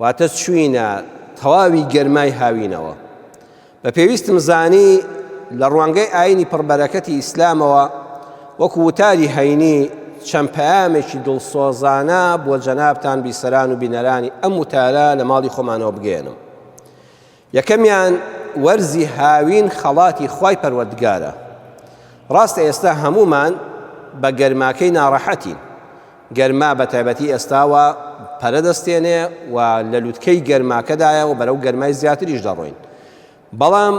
واتە چووینە تەواوی گەرمای هاوینەوە. بە پێویستم زانی لە ڕوانگەی ئاینی پڕبەرەکەتی ئیسلامەوە وەکو وتاری هەینی چەند پەیامێکی دڵسۆزانە بۆ جەنابتان بیسەران و بینەرانی ئەم وتارە لە ماڵی خۆمانەوە بگەیەنم. یەکەمیان وەرزی هاوین خەڵاتی خوای پەروەردگارە، ڕاستە ئێستا هەموومان بە گەرماکەی ناڕەحەتین، گەرما بە تایبەتی ئێستاوە پەرە دەستێنێ و لە لوتکەی گەرماکەدایە و بەرەو گەرمای زیاتریش دەڕۆین، بەڵام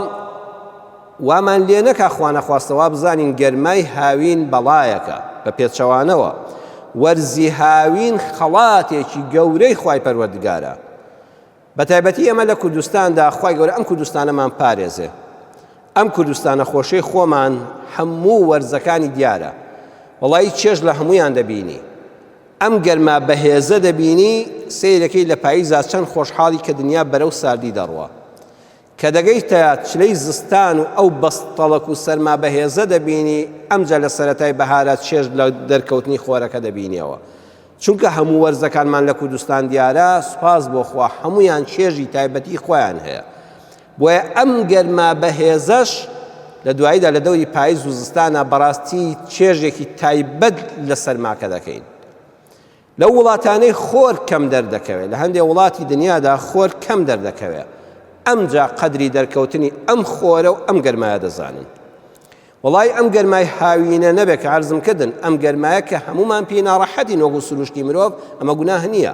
وامان لێ نەکا خوانەخواستە وا بزانین گەرمای هاوین بەڵایەکە، بە پێچەوانەوە وەرزی هاوین خەڵاتێکی گەورەی خوای پەروەردگارە، بەتایبەتی ئێمە لە کوردستاندا خوای گەورە ئەم کوردستانەمان پارێزێ ئەم کوردستانە خۆشەی خۆمان هەموو وەرزەکانی دیارە وەڵی چێژ لە هەمویان دەبینی ئەم گەرما بەهێزە دەبینی سیرەکەی لە پاییزا چەند خۆشحاڵی کە دنیا بەرەو ساردی دەڕوە کە دەگەیتە چلەی زستان و ئەو بەستەڵەک و سەرما بەهێزە دەبینی، ئەمجا لە سەرەتای بەهارا چێژ لە دەرکەوتنی خۆرەکە دەبینیەوە. چونکە هەموو وەرزەکانمان لە کوردستان دیارە، سوپاس بۆ خوا هەموویان چێژی تایبەتی خۆیان هەیە. بۆیە ئەم گەرما بەهێزەش لە دواییدا لە دەوری پایز و زستانا بەڕاستی چێژێکی تایبەت لە سەرماکە دەکەین. لەو وڵاتانەی خۆر کەم دەردەکەوێت، لە هەندێک وڵاتی دنیادا خۆر کەم دەردەکەوێت، ئەمجا قەدری دەرکەوتنی ئەم خۆرە و ئەم گەرمایە دەزانن. وەڵای ئەم گەرمای هاوینە نەبێت کە عەرزم کردن، ئەم گەرمایە کە هەموومان پێی ناڕەحەتین وەکو سروشتی مرۆڤ، ئەمە گوناه نییە،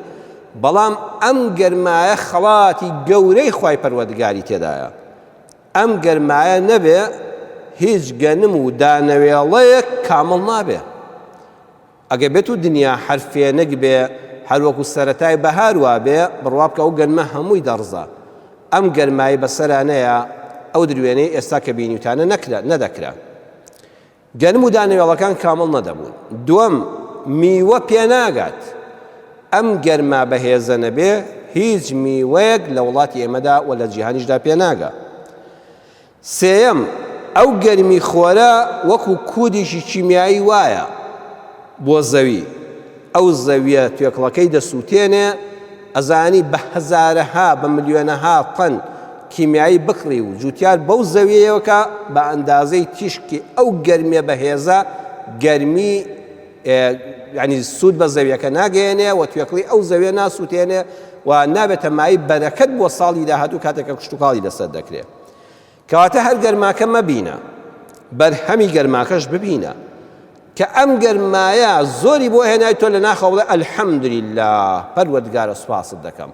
بەڵام ئەم گەرمایە خەڵاتی گەورەی خوای پەروەردگاری تێدایە. ئەم گەرمایە نەبێت هیچ گەنم و دانەوێڵەیەک کامڵ نابێت. ئەگەر بێتو دنیا هەر فێنک بێ هەر وەکو سەرەتای بەهار وابێ بڕوابکە ئەو گەنمە هەمووی دەڕزا ئەم گەرمای بەسەرا نەیا ئەو دروێنەی ئێستا کە بینیوتانە نەکرا نەدەکرا گەنم و دانەوێڵەکان کامڵ نەدەبوون دووەم میوە پێناگات ئەم گەرما بەهێزە نەبێ هیچ میوەیەک لە وڵاتی ئێمەدا و لە جیهانیشدا پێناگە سێیەم، ئەو گەرمی خۆرە وەکو کودێکی کیمیایی وایە بۆ زەوی، ئەو زەویە توێکڵەکەی دەسوتێنێ، ئەزانی بە هەزارەها بە ملیۆنەها تەن کیمیایی بکڕی و جوتیار بەو زەویەیەوە کا بە ئەندازەی تیشکی ئەو گەرمیە بەهێزە گەرمی یانی سود بە زەویەکە ناگەیەنێ و توێکڵی ئەو زەویە ناسوتێنێ و نابێتە مایەی بەرەکەت بۆ ساڵی داهاتوو کاتێک کە کشتوکاڵی لەسەر دەکرێ. کەواتە هەر گەرماکە مەبینە بەرهەمی گەرماکەش ببینە کە ئەم گەرمایە زۆری بۆ هێنای تۆ لە ناخەوە بڵێ ئەلحەمدللا پەروەردگارە سوپاست دەکەم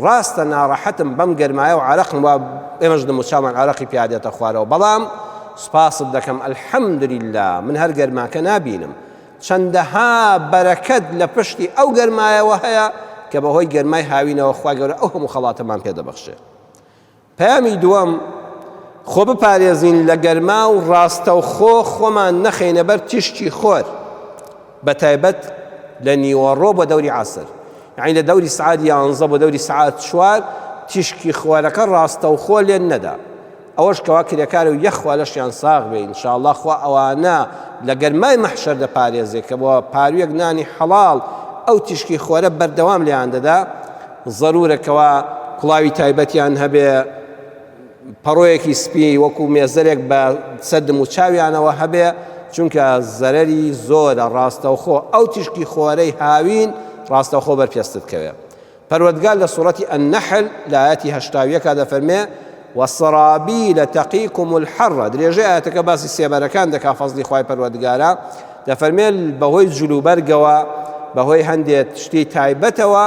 ڕاستە ناڕەحەتم بەم گەرمایە و عراقم وا ئێمەش دەموچامان عراقی پیادێتە خوارەوە بەڵام سوپاست دەکەم ئەلحەمدللا من هەر گەرماکە نابینم چەندەها بەرەکەت لە پشتی ئەو گەرمایەوە هەیە کە بەهۆی گەرمای هاوینەوە خوا گەورە ئەو هەموو خەڵاتەمان پێ دەبەخشێت پەیامی دووەم، خۆ بپارێزین لە گەرما و ڕاستەوخۆ خۆمان نەخەینە بەر تیشکی خۆر، بە تایبەت لە نیوەڕۆ بۆ دەوری عەسر، یانی لە دەوری سعات یانزە بۆ دەوری سعات چوار تیشکی خۆرەکە ڕاستەوخۆ لێ نەدا، ئەوەش کەوا کرێکار و یەخ خوا لەشیان ساغ بێ ان شاءاللە خوا ئەوانە لە گەرمای مەحشەر دەپارێزێ کە بە پارویەک نانی حەڵاڵ ئەو تیشکی خۆرە بەردەوام لێیان دەدا، زەرورە کەوا کوڵاوی تایبەتیان هەبێ، پەڕۆیەکی سپی وەکو مێزەرێک بە سەر دم و چاویانەوە هەبێ، چونکە زەرەری زۆرە ڕاستەوخۆ ئەو تیشکی خۆرەی هاوین ڕاستەوخۆ بەر پێستت کەوێ. پەروەردگار لە سورەتی النحل لە ئایەتی هەشتا و یەک دەفەرمێ. وسرابیل تقیکم الحر درێژەی ئایەتەکە باسی سێبەرەکان دەکات فەزلی خوای پەروەردگارە دەفەرمێت بەهۆی جلوبەرگەوە بەهۆی هەندێک شتی تایبەتەوە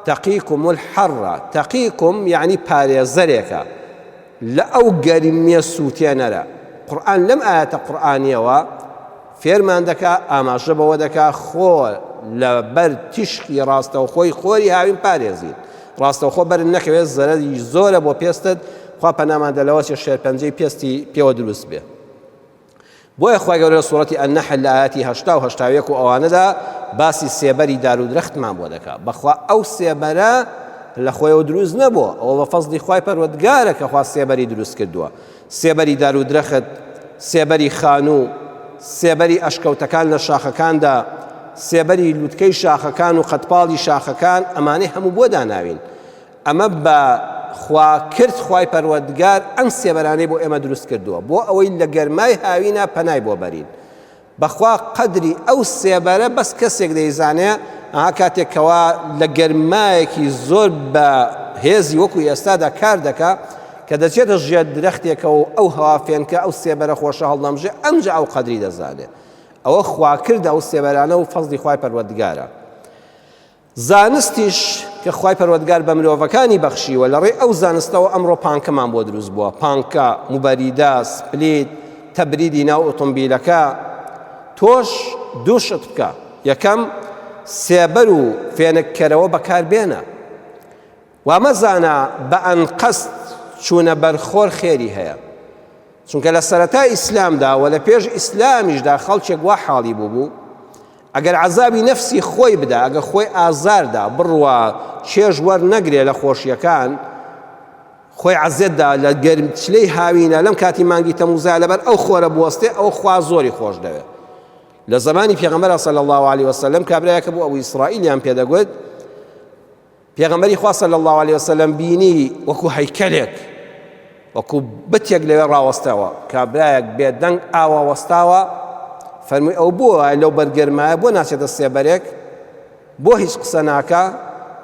تقیکم الحر تقیکم یعنی پارێزەرێکە لە ئەو گەرمیە سووتێنەرە قورآن لەم ئاەتە قورآانیەوە فێرمان دەکا، ئاماژە بەوە دەکا خۆ لە بەر تیشکی ڕاستەوخۆی خۆری هاوین پارێزین، ڕاستەوخۆ بەرت نەکەوێت زەرەری زۆرە بۆ پێستت، خوا پەنامان دە لەوەچێ شێرپەنجەی پێستی پێوە دروست بێ. بۆیە خوای گەورە لە سوڕەتی النحل لە ئایەتی هەشتا و هەشتا و یەک و ئەوانەدا باسی سێبەری دار و درەختمان بۆ دەکا، بەخوا ئەو سێبەرە لە خۆیەوە دروست نەبووە، ئەوە بە فەزڵی خوای پەروەردگارە کە خوا سێبەری دروست کردووە، سێبەری دارودرەخت، سێبەری خانوو، سێبەری ئەشکەوتەکان لە شاخەکاندا، سێبەری لوتکەی شاخەکان و قەدپاڵی شاخەکان ئەمانەی هەموو بۆ داناوین ئەمە بە خوا کرد خوای پەروەردگار ئەم سێبەرانەی بۆ ئێمە دروست کردووە بۆ ئەوەی لە گەرمای هاوینا پەنای بۆ بەرین بەخوا قەدری ئەو سێبەرە بەس کەسێک دەیزانێ ئەها کاتێک کەوا لە گەرمایەکی زۆر بە هێزی وەکو ئێستادا کار دەکا کە دەچێتە ژێر درەختێکە و ئەو هەوا فێنکە ئەو سێبەرە خۆشە هەڵنەمژێ ئەمجا ئەو قەدری دەزانێ ئەوە خواکردە ئەو سێبەرانە و فەزلی خوای پەروەردگارە. زانستیش کە خوای پەروەردگار بە مرۆڤەکانی بەخشیوە لە ڕێی ئەو زانستەوە ئەمڕۆ پانکەمان بۆ دروست بووە پانکە، موبەریدە، سپلیت، تەبریدی ناو ئۆتۆمبیلەکە تۆش دوو شت بکە یەکەم سێبەر و فێنککەرەوە بەکار بێنە وامەزانە بە ئەنقەست چوونە بەر خۆر خێری هەیە، چونکە لە سەرەتای ئیسلامدا و لە پێش ئیسلامیشدا خەڵکێک وا حاڵی بووبوو، ئەگەر عەزابی نەفسی خۆی بدا، ئەگەر خۆی ئازار دا، بڕوا چێژ وەرنەگرێ لە خۆشییەکان، خۆی عەزێت دا لە گەرمچلەی هاوینە، لەم کاتی مانگی تەمووزا لەبەر ئەو خۆرە بوەستێ، ئەوە خوا زۆری خۆش دەوێ. لە زەمانی پێغەمبەرا صلی اللە علیە وسلم کابرایەک بوو ئەبو ئیسرائیلیان پێ دەگوت، پێغەمبەری خوا صلی اللە علیە وسلم بینی وەکو هەیکەلێک وەکو بتێک لەوێ ڕاوەستاوە کابرایەک بێدەنگ ئاوا وەستاوە فەرمووی ئەو بۆ وایە لەو بەرگەرمایە بۆ ناچێتە سێبەرێک بۆ هیچ قسە ناکە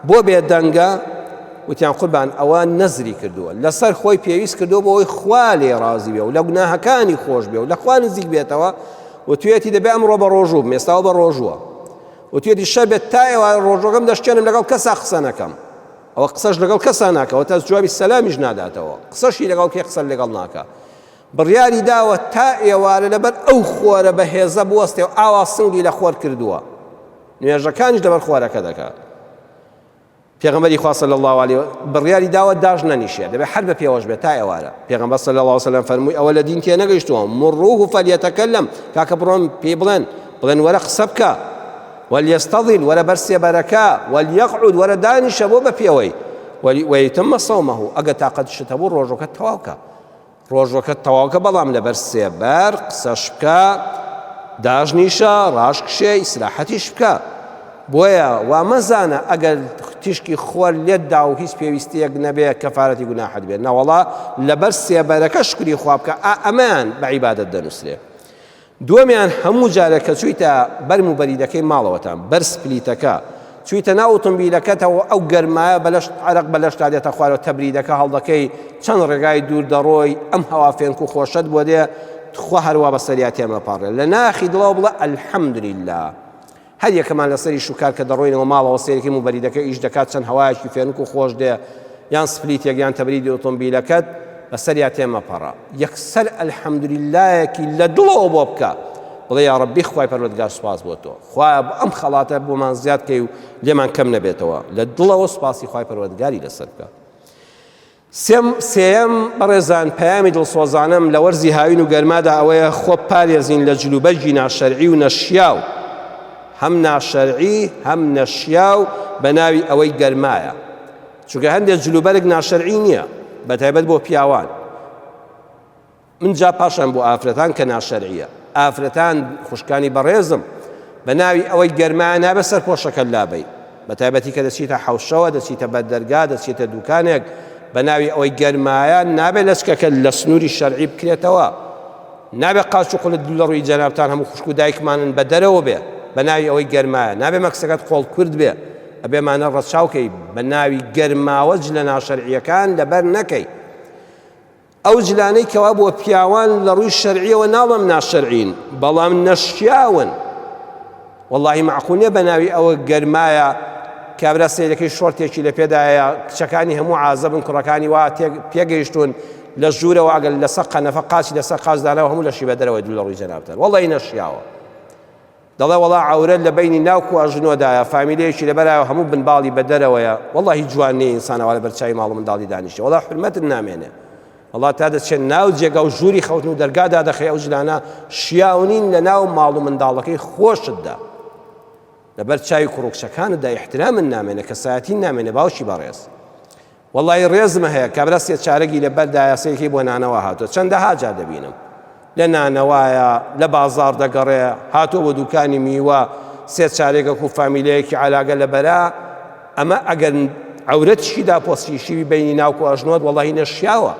بۆ بێدەنگە وتیان قوربان ئەوە نەزری کردووە لەسەر خۆی پێویست کردو بۆ ئەوی خوا لێ ڕازی بێ و لە گوناهەکانی خۆش بێ و لە خوا نزیک بێتەوە و توێتی دەبێ ئەمڕۆ بە ڕۆژوو مێستاوە بە ڕۆژووە وتیەتی شەر بێت تا ئێوارە ڕۆژوەکەم دەشکێنم لەگەڵ کەسا قسە نەکەم ئەوە قسەش لەگەڵ کەسا ناکە وەتاس جوابی سەلامیش ناداتەوە قسەشی لەگەڵ کێ قسە لەگەڵ ناکە بڕیاری داوە تا ئێوارە لەبەر ئەو خۆرە بە هێزە بوەستێ و ئاوا سنگی لە خۆر کردووە نوێژەکانیش لەبەر خۆرەکە دەکات پێغەمبەری خوا صلی اللە علیە و بڕیاری داوە داش نەنیشێ دەبێ هەر بە پێوەش بێت تا ئێوارە پێغەمبەر صلی اللە وسلم فەرمووی ئەوە لە دین تێ نەگەیشتووە مروه فلیتکلم کاکە بڕۆن پێی بڵێن بڵێن وەرە قسە بکە ولیستظل وەرە بەر سێبەرەکە ولیقعود وەرە دانیشە بۆ بە پێوەی ویتم صومه ئەگە تاقەتشت هەبوو ڕۆژەکە تەواو کە ڕۆژوەکەت تەواوکە بەڵام لەبەر سێبەر قسەش بکە داشنیشە ڕاش کشێ ئیسراحەتیش بکە بۆیە وا مەزانە ئەگەر تیشکی خۆر لێت دا و هیچ پێویستیەک نەبێ کەفارەتی گوناحت بێ نەوەڵا لەبەر سێبەرەکە شکری خوا بکە ئا ئەمەیان بە عیبادەت دەنووسرێ دووەمیان هەموو جارێک کە چوویتە بەر موبەریدەکەی ماڵەوەتان، بەر سپلیتەکە، چوویتە ناو ئوتومبیلەکەتەوە، ئەو گەرمایە بە لەشت، عەرەق بە لەشتا دێتە خوارەوە، تەبریدەکە هەڵدەکەی، چەند ڕێگای دوور دەڕۆی، ئەم هەوا فێنک و خۆشەت بۆ دێ، توخوا هەروا بەسەریا تێمەپەڕێ، لە ناخی دڵەوە بڵێ، الحمدللە! هەر یەکەمان لەسەری شوکار کە دەڕۆینەوە ماڵەوە سەیرەکەی موبەریدەکە ئیش دەکات چەند هەوایەکی فێنک و خۆش دێ یان سپلیتێک یان تەبریدی ئۆتۆمبیلەکەت بەسەریا تێ مەپەڕە یەکسەر الحمدللەیەکی لە دڵەوە بۆ بکە بڵێ یا ڕەبی خوای پەروەردگار سوپاس بۆ تۆ خوایە بۆ ئەم خەڵاتە بۆمان زیاد کەی و لێمان کەم نەبێتەوە لە دڵەوە سوپاسی خوای پەروەردگاری لەسەر بکە سێیەم، بەڕێزان پەیامی دڵسۆزانەم لە وەرزی هاوین و گەرمادا ئەوەیە خۆ بپارێزین لە جلوبەرگی ناشەرعی و نەشیاو، هەم ناشەرعی هەم نەشیاو بە ناوی ئەوەی گەرمایە، چونکە هەندێک جلوبەرگ ناشەرعی نییە بەتایبەت بۆ پیاوان، من جا پاشان بۆ ئافرەتان کە ناشەرعیە ئافرەتان خوشکانی بەڕێزم بە ناوی ئەوەی گەرما نابێ سەرپۆشەکە لابەی بە تایبەتی کە دەچیتە حەوشەوە دەچیتە بەردەرگا دەچیتە دوکانێک بە ناوی ئەوەی گەرمایە نابێ لەچکەکە لە سنووری شەرعی بکرێتەوە نابێ قاچ و قلت لە ڕووی جەنابتان هەموو خوشک و دایکمانن بە دەرەوە بێ بە ناوی ئەوەی گەرمایە نابێ مەکسەکەت قۆڵ کورد بێ ئەبێمانە ڕەچاوکەی بە ناوی گەرماوەج لە ناشەرعیەکان لەبەر نەکەی ئەو جلانەی کەوا بۆ پیاوان لە ڕووی شەرعیەوە ناڵم ناشەرعین بەڵام نەشیاون واللهی معقولە بە ناوی ئەوە گەرمایە کابرا سیرەکەی شۆرتێکی لە پێدایە کچەکانی هەموو عازبن کوڕەکانی وا پێگەیشتون لە ژوورەوە ئەگەر لەسەر قەنەفە قاچی لەسەر قاچدانەوە هەموو لەشی بە دەرەوەی دوو لە ڕووی جەنابتەر وەڵی نەشیاوە دەڵێ وەڵا عەورەت لە بەینی ناو کوا ژنۆدایە فامیلەیەکی لەبەرایەوە هەموو بن باڵی بە دەرەوەیە وەڵا هیچ جوان نیە ئینسان ئەوا لەبەر چاوی ماڵ و منداڵی دانیشێ وەڵا حورمەتت نامێنێ وەڵا تا دەچێت ناو جێگا و ژووری خەوتن و دەرگا دادەخەی ئەو ژنانە شیاونین لە ناو ماڵ و منداڵەکەی خۆشتدا لەبەر چاوی کوڕکچەکانتدا ئیحترامن نامێنێ کەسایەتی نامێنێ باوکی بەڕێز وەڵایی ڕێزم هەیە کابرا سێ چارەگی لە بەر دایە سەیرکەی بۆ نانەوا هاتوە چەندەها جار دەبینم لە نانەوایە لە بازاڕ دەگەڕێ هاتوە بۆ دوکانی میوە سێ چارێگەک و فامیلەیەکی عەلاگە لە بەرا ئەمە ئەگەر عورەتشی دا پۆسیشیوی بینی ناوکو ئەژنۆت وەڵی نەشیاوە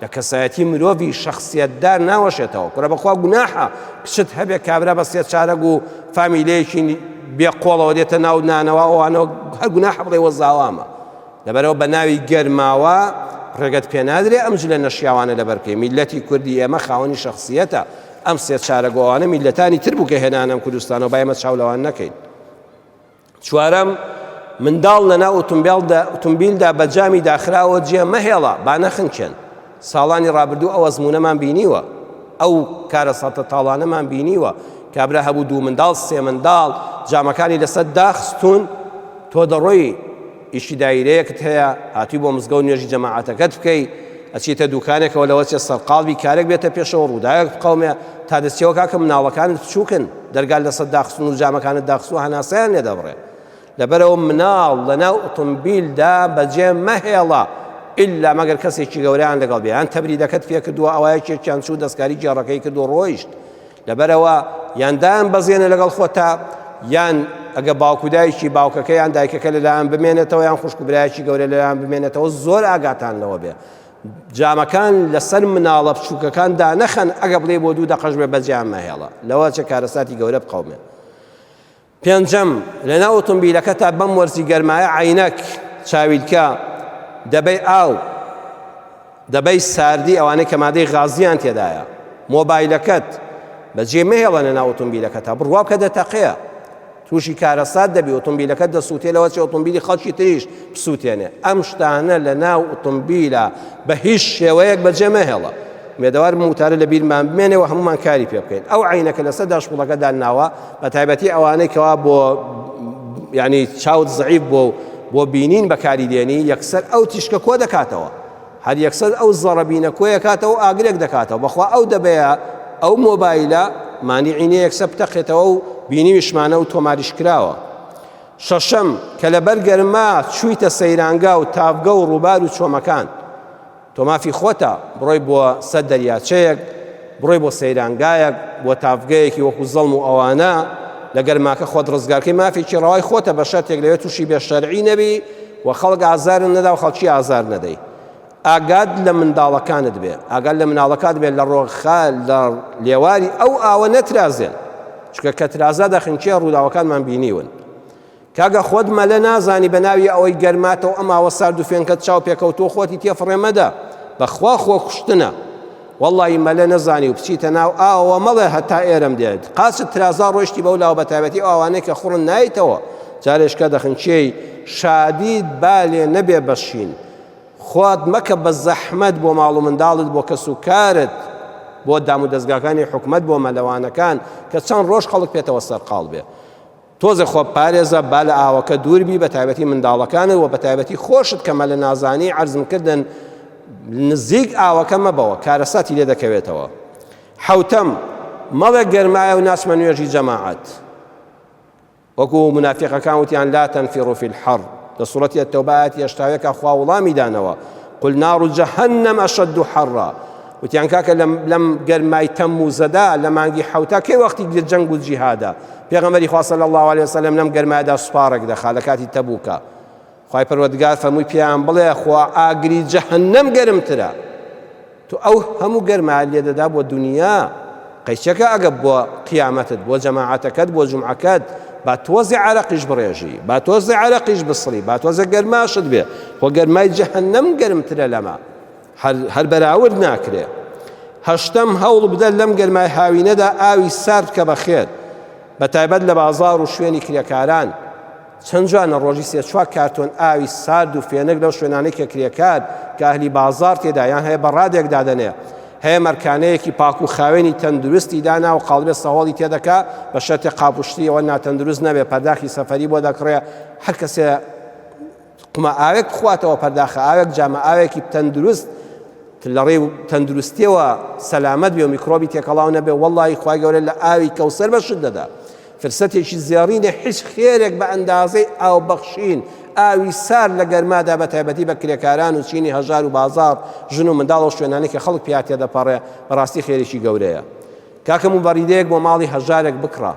لە کەسایەتی مرۆڤی شخصیتدا ناوەشێتەوە کورە بەخوا گوناحە کچت هەبێ کابرا بە سێ چارەگ و فامیلەیەکی بێ قۆڵەوە دێتە ناو نانەوە ئەوانەوە هەر گوناحە بڵێ وە زاوامە لەبەرئەوە بە ناوی گەرماوە ڕێگەت پێ نادرێ ئەم جلە نەشیاوانە لەبەر بکەی میللەتی کوردی ئێمە خاوەنی شەخسیەتە ئەم سێ چارە گۆ ئەوانە میللەتانی تر بوو کە هێنانەم کوردستانەوە با ئێمە چاو لەوان نەکەین چوارەم منداڵ لەنا ئۆتومبیلدا ئۆتومبیلدا بە جامی داخراوە جێ مەهێڵە با نەخنکێن ساڵانی ڕابردوو ئەو ئەزمونەمان بینیوە ئەو کارە ساتە تاڵانەمان بینیوە کابرا هەبوو دوو منداڵ سێ منداڵ جامەکانی لەسەر داخستون تۆ دەڕۆی ئیشی دایرەیەکت هەیە هاتوی بۆ مزگەوت نوێژی جەماعەتەکەت بکەی ئەچیتە دوکانێکەوە لەوە چێ سەرقاڵبی کارێک بێتە پێشەوە ڕوداوێک بقەومێ تا دەچیەوە کاکە مناڵەکانت بچوکن دەرگات لەسەر داخستون و جامەکانت داخستوە هەناسەیان لێ دەبڕێ لەبەرەوە مناڵ لەناو ئۆتۆمبیلدا بەجێ مەهێڵە ئللا مەگەر کەسێکی گەوریان لەگەڵ بێ یان تەبریدەکەت پێکردووە ئەوایەکێکیان چوو دەستکاری گێڕەکەی کرد و ڕۆیشت لەبەرەوە یان دایان بەزێنە لەگەڵ خۆتا یان ئەگە باوک و دایکی باوکەکە یان دایکەکە لەلایەن بمێنێتەوە یان خوشک و برایەکی گەورە لەلایەن بمێنێتەوە زۆر ئاگاتان لەوە بێ جامەکان لەسەر مناڵە بچووکەکان دانەخەن ئەگە بڵێ بۆ دوو دەقەش بێ بەجیان مەهێڵە لەوە چە کارەساتی گەورە بقەومێ پێنجەم، لەناو ئۆتۆمبیلەکەتا بەم وەرزی گەرمایە عەینەک، چاویلکە، دەبەی ئاو، دەبەی ساردی ئەوانەی کە مادەی غازیان تێدایە، مۆبایلەکەت بەجێ مەهێڵە لەناو ئۆتۆمبیلەکەتا، بڕوا بکە دەتەقێ، تووشی کارەسات دەبی، ئۆتۆمبیلەکەت دەسووتێ لەوەچێ ئۆتۆمبیلی خەڵکی تریش بسووتێنێ، ئەم شتانە لەناو ئۆتۆمبیلا بە هیچ شێوەیەک بەجێ مەهێڵە. ئومێدەوارم ئەم وتارە لەبیرمان بمێنێ و هەموومان کاری پێ بکەین. ئەو عەینەکە لەسەر داشبوڵەکە دانناوە، بە تایبەتی ئەوانەی کەوا بۆ یعنی چاوت زعیف بۆ بۆ بینین بەکاری دێنی یەکسەر ئەو تیشکە کۆ دەکاتەوە هەر یەکسەر ئەو زەڕەبینە کۆیە کاتەوە ئاگرێک دەکاتەوە بەخوا ئەو دەبەیە ئەو مۆبایلە مانیعینە یەکسە بتەقێتەوە و بینیویشمانە و تۆماریش کراوە شەشەم کە لەبەر گەرما چوویتە سەیرانگا و تاڤگە و ڕووبار و چۆمەکان تۆ مافی خۆتە بڕۆی بۆ سەر دەریاچەیەک، بڕۆی بۆ سەیرانگایەک، بۆ تاڤگەیەکی وەکو زەڵم و ئەوانە، لە گەرماکە خۆت ڕزگار کەی مافێکی ڕەوای خۆتە بە شەرتێک لەوێ تووشی بێ شەرعی نەبی و خەڵک ئازارت نەدا و خەڵکی ئازار نەدەی. ئاگات لە منداڵەکانت بێ، ئاگات لە مناڵەکات بێ لە ڕۆخا لە لێواری ئەو ئاوە نەترازێن، چونکە کە ترازا دەخنکێ ڕووداوەکانمان بینیون. کاکە خۆت مەلە نازانی بەناوی ئەوەی گەرماتەو ئەم ئاوە سارد و فێنکەت چاو پێکەوتووە خۆتی تێ فڕێ مەدە بەخوا خۆ کوشتنە وەڵڵاهی مەلە نەزانی و بچیتە ناو ئاوەوە مەڵێ هەتا ئێرەم دێت قاچت ترازا ڕۆیشتی بەو لاوە بەتابەتی ئەو ئاوانەی کە خوڕن نایتەوە جارێشکە دەخنچێی شادیت بالێ نەبێ بەشین خۆت مەکە بە زەحمەت بۆ ماڵ و منداڵت بۆ کەس و کارت بۆ دام و دەستگاکانی حکومت بۆ مەلەوانەکان کە چەند ڕۆژ خەڵک پێێتەوە سەرقاڵ بێ تۆزێ خۆت پارێزە با لە ئاوەکە دوور بی بە تایبەتی منداڵەکانت وە بە تایبەتی خۆشت کە مەلە نازانی عەرزم کردن نزیک ئاوەکە مەبەوە کارەساتی لێ دەکەوێتەوە حەوتەم مەڵێ گەرمایە و ناچمە نوێژی جەماعەت وەکو منافقەکان وتیان لا تنفروا في الحر لە سوڵەتی التوبات یەشتاوێکە خوا وڵامی دانەوە قل نار جهنم اشد حرا وتیان کاکە لەم لەم گەرمای تەموزەدا لە مانگی حوتا کەی وەختی گرێ جەنگ و جیهادە پێغەمەری خوا صلی الله علیه وسلم لەم گەرمایدا سوپاڕێک دەخا لە کاتی تەبوکە خوای پەروەردگار فەرمووی پیان بڵێ خوا ئاگری جەهەنەم گەرمترە تو ئەو هەموو گەرما لێدەدا بۆ دنیا قەیچەکە ئەگە بۆ قیامەتت بۆ جەماعەتەکەت بۆ جمعەکەت با تۆزی عرەقیش بڕێژی با تۆزی عرەقیش بسڕی با تۆزە گەرماشت بێ خۆ گەرمای جەهەنەم گەرمترە لەمە هەر هەر بەراورد ناکرێ. هەشتەم، هەوڵ بدە لەم گەرمای هاوینەدا ئاوی سارد بکە بە خێر، بە تایبەت لە بازاڕ و شوێنی کرێکاران. چەند جوانە ڕۆژی سێ چوار کارتۆن ئاوی سارد و فێنک لەو شوێنانەی کە کرێکار کە ئەهلی بازاڕ تێدایان هەیە بە ڕادێک دادەنێ. هەیە مەرکانەیەکی پاک و خاوێنی تەندروستی دانا و قاڵبێ سەهۆڵی تێدەکا، بە شەرتێ قاپوشتییەوە ناتەندروست نەبێ، پەرداخی سەفەری بۆ دەکڕێ، هەر کەسێ قومە ئاوێک بخواتەوە پەرداخە ئاوێک جامە ئاوێکی تەندروست لەڕێ تەندروستیەوە سەلامەت بێ و میکرۆبی تێکەڵاو نەبێ وەڵی خخوای گەورە لە ئاوی کەوسەر بەشت دەدا فرسەتێکی زێڕینە حیچ خێرێک بە ئەندازەی ئاو بەخشین ئاوی سار لە گەرمادا بە تایبەتی بە کرێکاران و چینی هەژار و بازار ژن و منداڵ و شوێنانێکی خەڵک پیاتێ دەپەڕێ بەڕاستی خێرێکی گەورەیە کاکەم و بەڕیدەیەک بۆ ماڵی هەژارێک بکڕە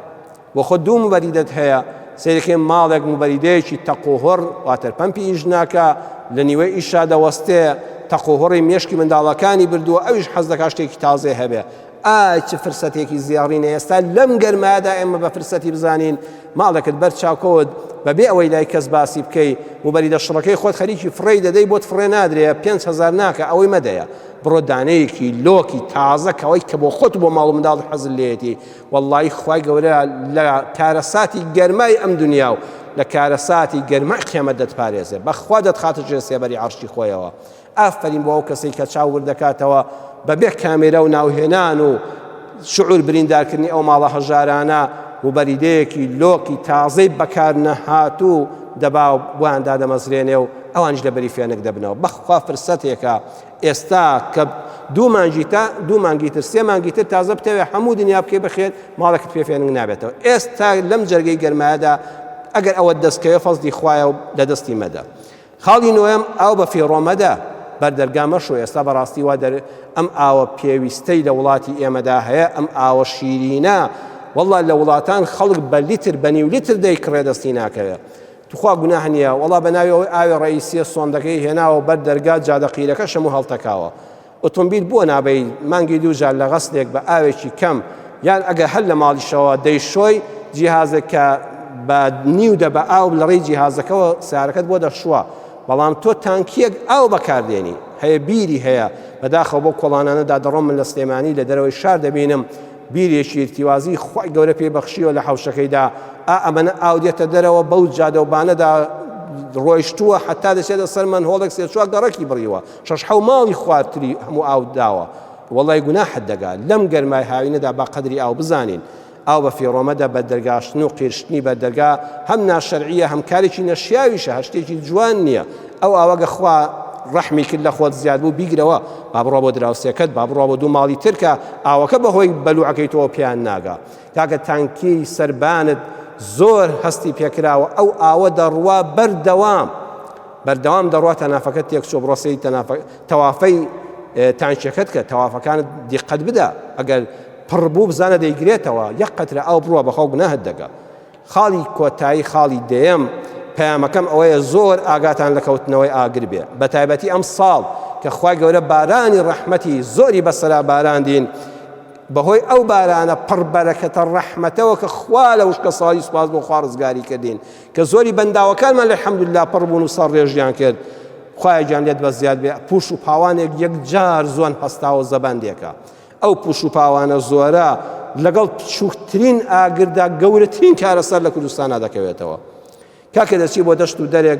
بۆ خۆت دوو موبەریدەت هەیە، سەیرکەین ماڵێک موبەریدەیەکی تەق و هۆڕ، واتەر پەمپی ئیش ناکا، لە نیوەی ئیشا دەوەستێ، تەق و هۆڕی مێشکی منداڵەکانی بردووە، ئەویش حەز دەکا شتێکی تازەی هەبێ. ئای چ فرسەتێکی زێڕینە ئێستا لەم گەرمایەدا ئێمە بە فرسەتی بزانین ماڵێکت بەر چاو کەوت، بە بێ ئەوەی لای کەس باسی بکەی، موبەریدە شڕەکەی خۆت خەریکی فڕێی دەدەی، بۆت فڕێ نادرێ، پێنج هەزار ناکا، ئەوەی مەدەیە، بڕۆ دانەیەکی لۆکی تازە کەوە کە بۆ خۆت و بۆ ماڵ و منداڵت حەزت لێیەتی، وەڵڵایی خوای گەورە لە کارەساتی گەرمای ئەم دنیا و لە کارەساتی گەرمای قیامەت دەتپارێزێ بەخوا دەتخاتە ژێر سێبەری عەرشی خۆیەوە ئافەرین بۆ ئەو کەسەی کە چاو ورد دەکاتەوە بەبێ کامێرا و ناوهێنان و شعور بریندارکردنی ئەو ماڵە هەژارانە و بەریدەیەکی لۆکی تازەی بەکار نەهاتوو دەبا و بۆیان دادەمەزرێنێ و ئەوانیش لەبەری فێنک دەبنەوە بەخوا فرسەتێکە ئێستا کە دوو مانگی تا دوو مانگی تر سێ مانگی تر تازە بتەوێت هەموو دنیا بکەی بەخێر ماڵێکت پێ فێنک نابێتەوە ئێستا لەم جەرگەی گەرمایەدا ئەگەر ئەوە دەستکەوێ فەزدی خوایە و لە دەستی مەدە خاڵی نوێم ئاو بە فیڕۆمەدە بەردەرگا مەشو ئێستا بەڕاستی وا دەر ئەم ئاوە پێویستەی لە وڵاتی ئێمەدا هەیە ئەم ئاوە شیرینە والله لە وڵاتان خەڵک بە لیتر بە نیو لیتر دەیکڕێ دەستی ناکەوێت توخوا گوناح نیە وەڵا بەناوی ئەوەی ئاوێ ڕەئیسیە سۆندەکەی هێناوە بەر دەرگا جادە قیرەکەش هەموو هەڵتەکاوە ئۆتۆمبیل بۆ نابەی مانگی دوو جار لە غەسلێک بە ئاوێکی کەم یان ئەگەر هەر لە ماڵیشەوە دەیشۆی جیهازێک کە بە نیو دە بە ئاو لە ڕێی جیهازەکەەوە سارەکەت بۆ دەخشووە بەڵام تۆ تانکیەک ئاو بەکاردێنی هەیە بیری هەیە بەداخەوە بۆ کۆڵانانەدا دەڕۆم من لە سلێمانی لە دەرەوەی شار دەبینم بیرێکی ئیرتیوازی خوای گەورە پێی بەخشیوە لە حەوشەکەیدا ئا ئەمەنە ئاو دێتە دەرەوە بەو جادە و بانەدا ڕۆیشتووە حەتا دەچێتە سەر مەنهۆڵێک سێ چوار گەڕەکی بڕیوە شەش حەو ماڵی خوارتری هەموو ئاو داوە وەڵای گوناحت دەگا لەم گەرمای هاوینەدا با قەدری ئاو بزانین ئاو بە فیڕۆمەدە بە دەرگاشتن و قیرشتنی بە دەرگا هەم ناشەرعیە هەم کارێکی نەشیاویشە هەشتێکی جوان نییە ئەو ئاوەگە خوا ڕەحمی کرد لە خۆت زیاد بوو بیگرەوە با بڕوا بۆ دراوسێکەت با بڕوا بۆ دوو ماڵی تر کە ئاوەکە بەهۆی بەلوعەکەی تۆ پیان ناگا کاکە تانکی سربانت زۆر هەستی پێکراوە ئەو ئاوە دەڕوا بەردەوام بەردەوام دەڕوا تەنافەکەت تێک چۆ بڕۆسی تەوافەی تانچەکەت کە تەوافەکانت دیقەت بدە ئەگەر پڕبوو بزانە دەیگرێتەوە یەک قەترە ئەو بڕوە بەخەو گوناهت دەگە خاڵی کۆتایی خاڵی دەیەم، پەیامەکەم ئەوەیە زۆر ئاگاتان لە کەوتنەوەی ئاگر بێ بەتایبەتی ئەم ساڵ کە خوای گەورە بارانی ڕەحمەتی زۆری بەسەرا باراندین بەهۆی ئەو بارانە پڕ بەرەکەتە ڕەحمەتەوە کە خوا لە وشکە ساڵی سوپاس بۆ خوا ڕزگاری کردین کە زۆری بەنداوەکانمان لە حەمدللا پڕ بوون و سەر ڕێژیان کرد خوایە گیان لێت بە زیاد بێ پوش و پاوانێک یەک جار زۆن هەستاوە زەبەندێکە ئەو پوش و پاوانە زۆرە لەگەڵ بچووکترین ئاگردا گەورەترین کارەسەر لە کوردستانا دەکەوێتەوە کاکە دەچی بۆ دەشت و دەرێک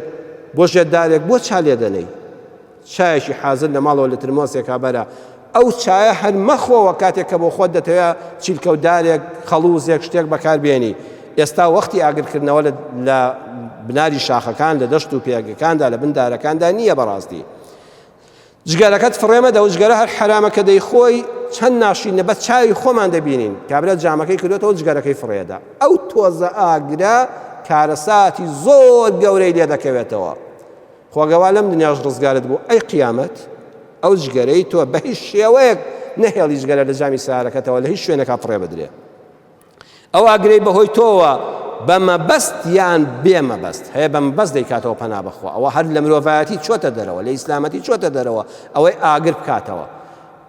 بۆ ژێدارێک بۆ چا لێدەنەی چایەکی حازر لە ماڵەوە لە ترمۆسێکا بەرە ئەو چایە هەر مەخۆوە کاتێک کە بۆ خۆت دەتەوێت چیلکەودارێک خەڵوزێک شتێک بەکاربیێنی ئێستا وەختی ئاگرکردنەوە لە بناری شاخەکان لە دەشت و پێگەکاندا لە بندارەکاندا نییە بەڕاستی جگەرەکەت فڕێ مەدە و جگەرە هەر حەرامە کە دەیخۆی چەند ناشرینە بەس چاوی خۆمان دەبینین کابرا جامەکەی کردۆتەوە جگەرەکەی فڕێ ئەدا ئەو تۆزە ئاگرە کارەساتی زۆر گەورەی لێ دەکەوێتەوە خۆگەوا لەم دنیاش ڕزگارت بوو ئەی قیامەت ئەو جگەرەی تۆ بە هیچ شێوەیەک نەهێڵی جگەرە لە جامی سارەکەتەوە لە هیچ شوێنەکە فڕێ بدرێ ئەو ئاگرەی بەهۆی تۆوە بە مەبەست یان بێ مەبەست هەیە بە مەبەست دەیکاتەوە پەنا بەخوا ئەوە هەر لە مرۆڤایەتی چۆتە دەرەوە لە ئیسلامەتی چۆتە دەرەوە ئەوەی ئاگر بکاتەوە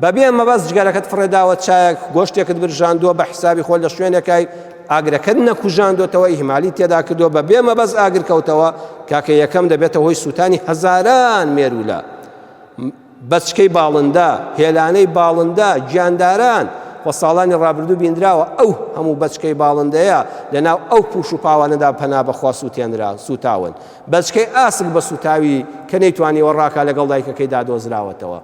بەبێ مەبەست جگەرەکەت فڕێداوە چایەک گۆشتێکت برژاندووە بە حسابی خۆ لە شوێنەکەی ئاگرەکەت نەکوژاندۆتەوە ئیهمالی تێدا کردووە بە بێ مەبەز ئاگر کەوتەوە کاکە یەکەم دەبێتە هۆی سووتانی هەزاران مێروولە بەچکەی باڵندە، هێلانەی باڵندە، گیانداران، و ساڵانی ڕابردوو بینراوە ئەو هەموو بەچکەی باڵندەیە لەناو ئەو پوش و پاوانەدا پەنا بەخوا سووتێنرا سووتاون بەچکەی ئاسک بە سووتاوی کە نەیتوانیوە ڕاکا لەگەڵ دایکەکەیدا دۆزراوەتەوە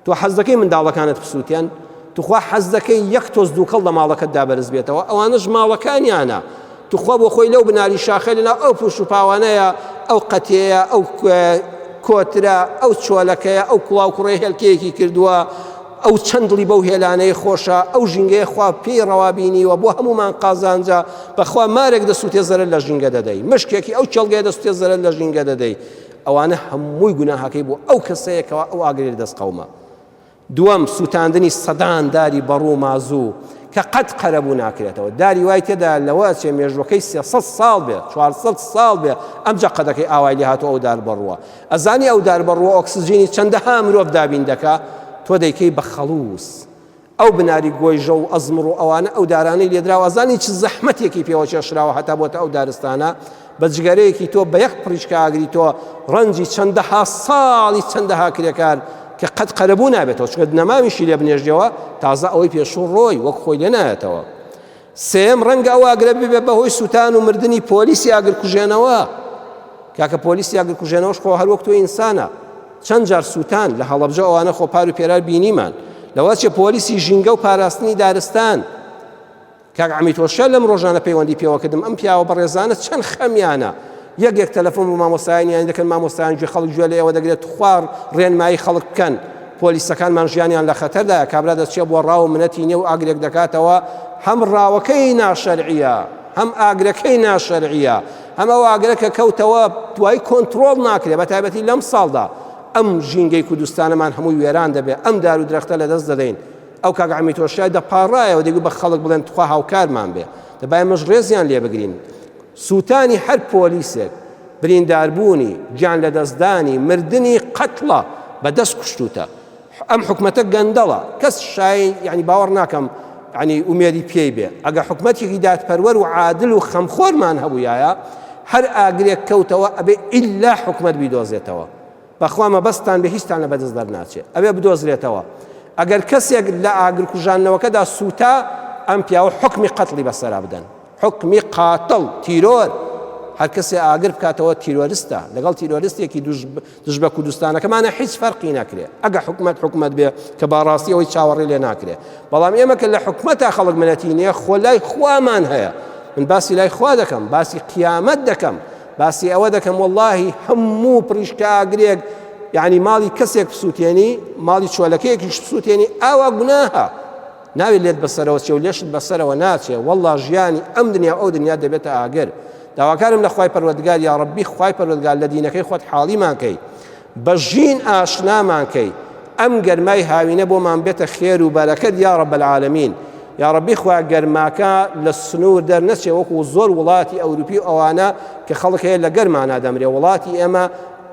تۆ حەز دەکەی منداڵەکانت بسووتێن توخوا حەز دەکەی یەک تۆز دووکەڵ لە ماڵەکەتدا بەرز بێتەوە ئەوانەش ماڵەکانیانە توخوا بۆ خۆی لەو بناری شاخە لەناو ئەو پوش و پاوانەیە ئەو قەتێیە ئەو کۆترە ئەو چۆلەکەیە ئەو کوڵاو کوڕێ هێلکەیەکی کردووە ئەو چەند دڵی بەو هێلانەیە خۆشە ئەو ژینگەیە خوا پێی ڕەوابینیوە بۆ هەمومان قازانجە بەخوا مارێک دەسووتێ زەرەر لە ژینگە دەدەی مشکێکی ئەو کێڵگەیە دەسووتێ زەرەر لە ژینگە دەدەی ئەوانە هەمووی گوناهەکەی بۆ ئەو کەسەیەکەوە ئەو ئاگرێ دەست قەومە دووەم، سووتاندنی سەدان داری بەڕوو و مازوو کە قەت قەرەبوو ناکرێتەوە. داری وای تێدا لەوە ئەچێ مێژووەکەی سێ سەد ساڵ بێ، چوار سەد ساڵ بێ ئەمجا قەدەکەی ئاوای لێ هاتووە ئەو داربەڕووە. ئەزانی ئەو داربەڕووە ئۆکسجینی چەندەها مرۆڤ دابین دەکا؟ تۆ دەیکەی بە خەڵووز. ئەو بناری گۆیژە و ئەزمڕ و ئەوانە ئەو دارانەی لێدراوە ئەزانی چ زەحمەتێکی پێوە کێشراوە هەتا بۆتە ئەو دارستانە؟ بە جگەرەیەکی تۆ بە یەک پڕیشکە ئاگری تۆ ڕەنجی چەندەها ساڵی چەندەها کرێکار کە قەت قەرەبوو نابێتەوە چکە نەماویشی لێ بنێژەوە تازە ئەوەی پێشوو ڕۆی وەک خۆی لێ نایەتەوە سێم ڕەنگە ئەو ئاگرە ببێ بەهۆی سووتان و مردنی پۆلیسی ئاگر کوژێنەوە کاکە پۆلیسی ئاگر کوژێنەوەش خۆ هەر وەک تۆ ئینسانە چەند جار سووتان لە هەڵەبجە ئەوانە خۆپار و پێرار بینیمان لەوەچێ پۆلیسی ژینگە و پاراستنی دارستان کاک عەمید هۆشیار لەم ڕۆژانە پەیوەندی پێوە کردم ئەم پیاوە بەڕێزانە چەند خەمیانە یەک یەک تەلەفۆن بۆ مامۆستایانیان دەکەن مامۆستایان گوێ خەڵک گوێ لە ئێوە دەگرێت توخوار ڕێنمایی خەڵک بکەن پۆلیسەکانمان ژیانیان لە خەتەردایە کابرا دەچێت بۆ ڕاو منەتی نێو ئاگرێک دەکاتەوە هەم ڕاوەکەی ناشەرعیە هەم ئاگرەکەی ناشەرعیە هەم ئەو ئاگرە کە کەوتەوە دوای کۆنتترۆڵ ناکرێت بە تایبەتی لەم ساڵدا ئەم ژینگەی کوردستانەمان هەمووی وێران دەبێت ئەم دار و درەختە لە دەست دەدەین ئەو کاک عەمی تۆشای دەپاڕایەوە دەگو بە خەڵک بڵێن تخوا هاوکارمان بێ دەبای مەش ڕێزیان لێ بگرین سووتانی هەر پۆلیسێک برینداربوونی گیان لەدەستدانی مردنی قەتڵە بە دەست کوشتوتە ئەم حکومەتە گەندەڵە کەس شای یعنی باوەڕ ناکەم ینی ئومێدی پێی بێ ئەگە حکومەتێکی دادپەروەر و عادل و خەمخۆرمان هەبووایە هەر ئاگرێک کەوتەوە ئەبێ ئللا حکومت بیدۆزێتەوە بەخوا مەبەستتان بێ هیچتان لە بەدەست دەرناچێ ئەوێ بدۆزرێتەوە ئەگەر کەسێک لە ئاگرکوژاندنەوەکەدا سووتا ئەم پیاوە حکمی قەتڵی بەسەرا بدەن حکمی قاتڵ تیرۆر هەر کەسێ ئاگر بکاتەوە تیرۆرستە لەگەڵ تیرۆرستێکی دژ بە کوردستانەکەمانە هیچ فەرقی ناکرێ ئەگە حکومت حکومت بێ کە باڕاستی ئەوەی چاوەڕێ لێ ناکرێ بەڵام ئێمە کە لە حکومەتە خەڵک منەتی نییە خۆ لای خوامان هەیە من باسی لای خوا دەکەم باسی قیامەت دەکەم باسی ئەوە دەکەم واللهی هەموو پریشکاگرێک یعنی ماڵی کەسێک بسووتێنی ماڵی چۆلەکەیەکیش بسووتێنی ئاوا گوناهە ناوی لێت بەسەرەوە چێ و لێشت بەسەرەوە ناچێ والله ژیانی ئەم دنیا ئەو دنیا دەبێتە ئاگر داواکارم لە خخوای پەروەگار یا ڕبی خخوای پەروەگار لە دینەکەی خۆت حاڵیمانکەی بە ژین ئاشنامان کەی ئەم گەرمای هاوینە بۆمان بێتە خێر و بەرەکەت یا رب العالمین یا ربی خوا گەرماکە لە سنوور دەر نەچێ وەکو زۆر وڵاتی ئەوروپی و ئەوانە کە خەڵک هەیە لە گەرمانا دەمرێ وڵاتی ئێمە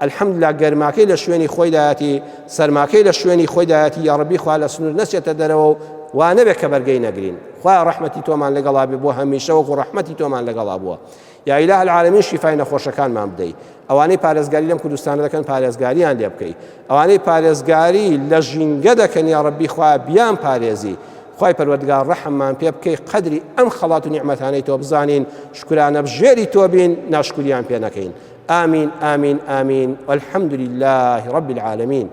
الحمد لله گەرماکەی لە شوێنی خۆی دایەتی سەرماکەی لە شوێنی خۆی دایەتی یا ربی خوا لە سنوور نەچێتە دەرەوە و وانەبێ کە بەرگەی نەگرین خوا ڕحمەتی تۆمان لەگەڵا بێ بۆ هەمیشە وەکو ڕحمەتی تۆمان لەگەڵا بووە یا الە العالمین شیفای نەخۆشەکانمان بدەی ئەوانەی پارێزگاری لەم کوردستانە دەکەن پارێزگاریان لێ بکەی ئەوانەی پارێزگاری لە ژینگە دەکەن یا ڕبی خوا بیان پارێزی خی پەروەردگار ڕەحممان پێ بکەی قدری ئەم خەڵات و نیعممەتانەی تۆ بزانین شکرانە بژێری تۆ بین ناشکوریان پێ نەکەین ئامین ئامین ئامین والحمد لله رب العالمین